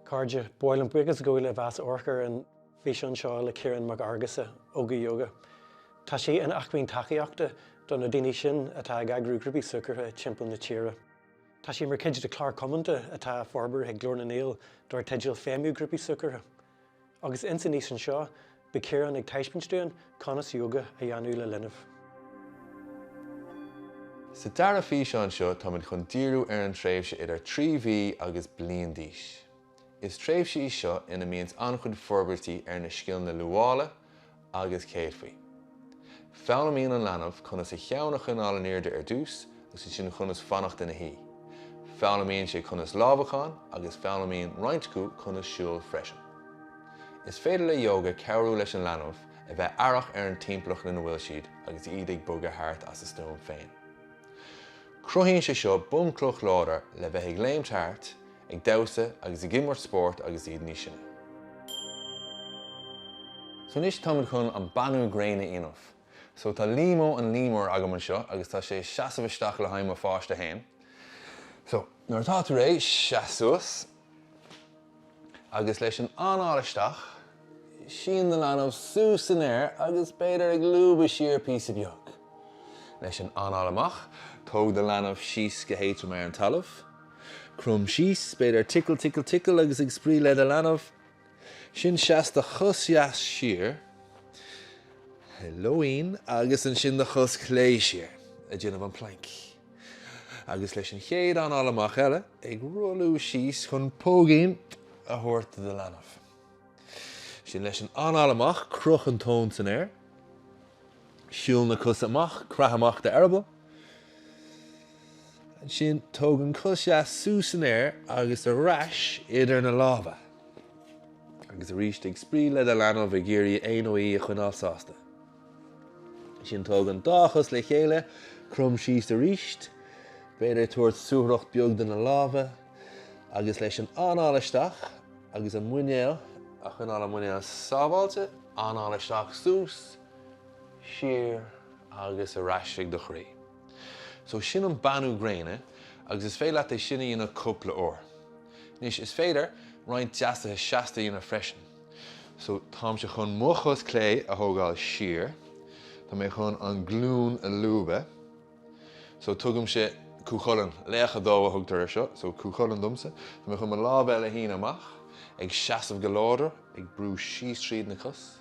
A chairde, míle buíochas go bhfuil sibh ag amharc ar an bhfíseán seo le Ciarán Mac Fheargusa, Óga Yoga. Tá sé ina acmhainn tacaíochta do na daoine sin atá ag eagrú grúpaí súgartha timpeall na tíre. Tá sé mar chuid de chlár cumhdaigh atá á forbairt ag Glór na nGael dar teideal Feidhmiú Grúpaí Súgartha. Agus ins an bhfíseán seo, beidh Ciarán ag taispeaint dúinn conas yoga a dhéanamh le linbh. Sa dara físeán seo táimid chun díriú ar an tréimhse idir trí mhí agus bliain d'aois. Is tréimhse í seo ina mbíonns an-chuid forbairtí ar na scileanna luaile, agus céadfaí. Foghlaimíonn an leanbh conas a cheann a choinneáil in airde ar dtús agus ansin conas fanacht ina shuí. Foghlaimíonn sé conas lámhacán agus foghlaimíonn roinnt acu conas siúl freisin. Is féidir le Yoga cabhrú leis an leanbh a bheith aireach ar an timpeallacht ina bhfuil siad agus iad ag bogadh thart as a stuaim féin. Cruthaíonn sé seo bunchloch láidir le bheith ag léimt thart ag damhsa agus ag imirt spóirt agus iad níos sine. So anois táimid chun an beannú gréine a dhéanamh. So tá Líomó an Líomar agam anseo agus tá sé ag seasamh isteach le haghaidh mo pháiste féin. So nuair atá tú réidh, seas suas agus leis an anáil isteach, sín do leanbh suas san aer agus b'fhéidir ag lúbadh siar píosa beag. Leis an anáil amach, tóg do leanbh síos go héadrom ar an talamh. Crom síos, b'fhéidir tickle tickle tickle agus ag spraoi le do leanbh. Sin seas do chos dheas siar, hello ann, agus ansin do chos chlé siar ag déanamh an plank. Agus leis an chéad anáil amach eile, ag rolladh síos chun póigín a thabhairt do do leanbh. Sin leis an anáil amach, croch an tóin san aer, siúl na cosa amach, craith amach d'eireaball. Ansin tóg an cos dheas suas san aer agus ar ais idir na lámha. Agus arís ag spraoi le do leanbh ag iarraidh é nó í a choinneáil sásta. Ansin tóg an dá chos le chéile, crom síos arís, b'fhéidir tabhairt suathaireacht beag do na lámha, agus leis an anáil isteach agus an muinéal a choinneáil an muinéal sábháilte, anáil isteach suas, siar agus ar ais chuig do chroí. So sin an beannú gréine agus is féidir leat é sin a dhéanamh cúpla uair. Anois is féidir roinnt deasuithe seasta a dhéanamh freisin. So táimse chun mo chos chlé a thógáil siar, tá mé chun an glún a lúbadh, So tugaimse Cú Chulainn, laoch a dó a thugtar ar seo, so Cú Chulainn domsa. Tá mé chun mo lámh eile a shíneadh amach, ag seasamh go láidir, ag brú síos tríd na cos.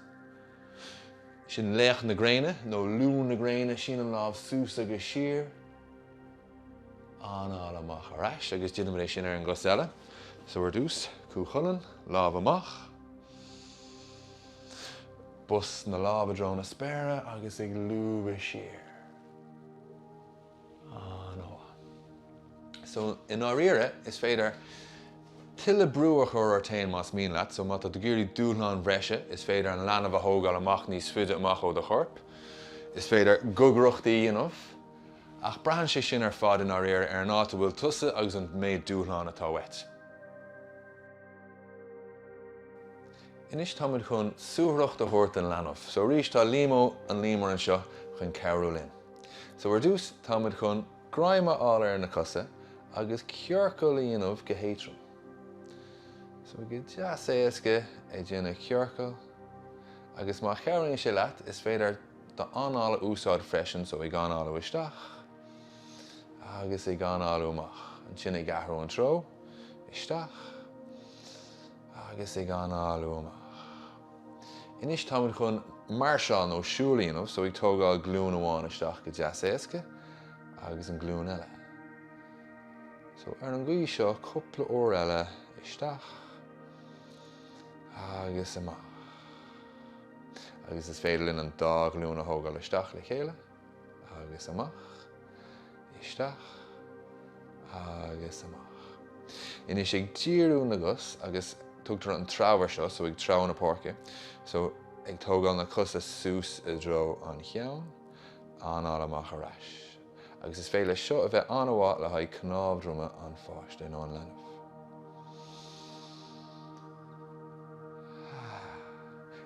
Sin laoch na gréine, nó liú na gréine, sínim lámh suas agus siar, anáil amach ar ais agus déanaimid é sin ar an gcos eile. So ar dtús, Cú Chulainn, lámh amach, bos na lámh i dtreo na spéire agus ag lúbadh siar. So, i ndáiríre, is féidir tuilleadh brú a chur ort féin más mian leat. So, má tá tú ag iarraidh dúshlán bhreise, is féidir an leanbh a thógáil amach níos faide amach ó do chorp. Is féidir gogaireachtaí a dhéanamh. Ach braitheann sé sin ar fad i ndáiríre ar an áit a bhfuil tusa agus an méid dúshlán atá uait. Anois tá muid chun suathaireacht a thabhairt don leanbh. So arís tá Liamó, an Liam Mór anseo chun cabhrú linn. So ar dtús tá muid chun greim a fháil ar na cosa agus ciorcal a dhéanamh go héadrom. So go deas éasca ag déanamh ciorcal agus má chabhraíonn sé leat is féidir d'anáil a úsáid freisin so ag análú isteach agus ag análú amach. Ansin ag athrú an treo, isteach, agus ag análú amach. Anois táimid chun máirseáil nó siúl a dhéanamh so ag tógáil glúin amháin isteach go deas éasca agus an glúin eile. So ar an gcaoi seo cúpla uair eile isteach agus amach. Agus is féidir linn an dá ghlúin a thógáil isteach le chéile. agus amach, isteach agus amach. Anois ag díriú na gcos agus tugtar an treabhadh ar seo, so ag treabhadh na páirce, so ag tógáil na cosa suas i dtreo an cheann, anáil amach ar ais. Agus is féidir leis seo a bheith an-mhaith le haghaidh cnámh droma an pháiste nó an leanbh.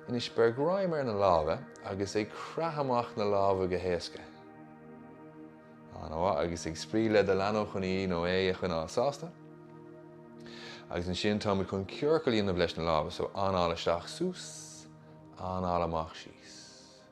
Anois, beir greim ar na lámha agus ag creathadh amach na lámha go héasca. An-mhaith, agus ag spraoi le do leanbh chun í nó é a choinneáil sásta. Agus ansin táimid chun ciorcal a dhéanamh leis na lámha, so anáil isteach suas, anáil amach síos.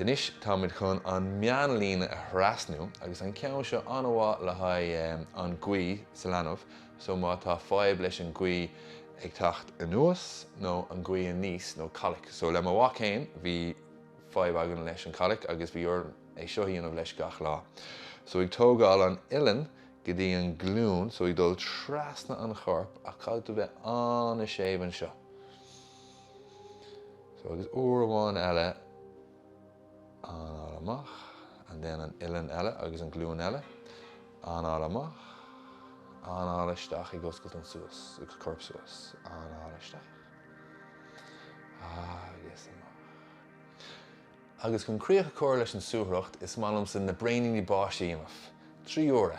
Anois táimid chun an meánlíne a thrasnú agus an ceann seo an-mhaith le haghaidh an ghaoth sa leanbh so má tá fadhb leis an ngaoth ag teacht anuas nó an ghaoth aníos nó coilic so le mo mhac fhéin bhí fadhb againn leis an gcoilic agus bhí orm é seo a dhéanamh leis gach lá so ag tógáil an uillinn go dtí an glúin so ag dul trasna an chorp ach caithfidh tú bheith an-séimh anseo. So agus uair amháin eile anáil amach and then an uilleann eile agus an glúin eile anáil amach anáil isteach ag oscailt an suas agus corp suas anáil isteach agus amach Agus chun críoch a chur leis an suathaireacht is maith liomsa na braoiníní báistí a dhéanamh. Trí uaire.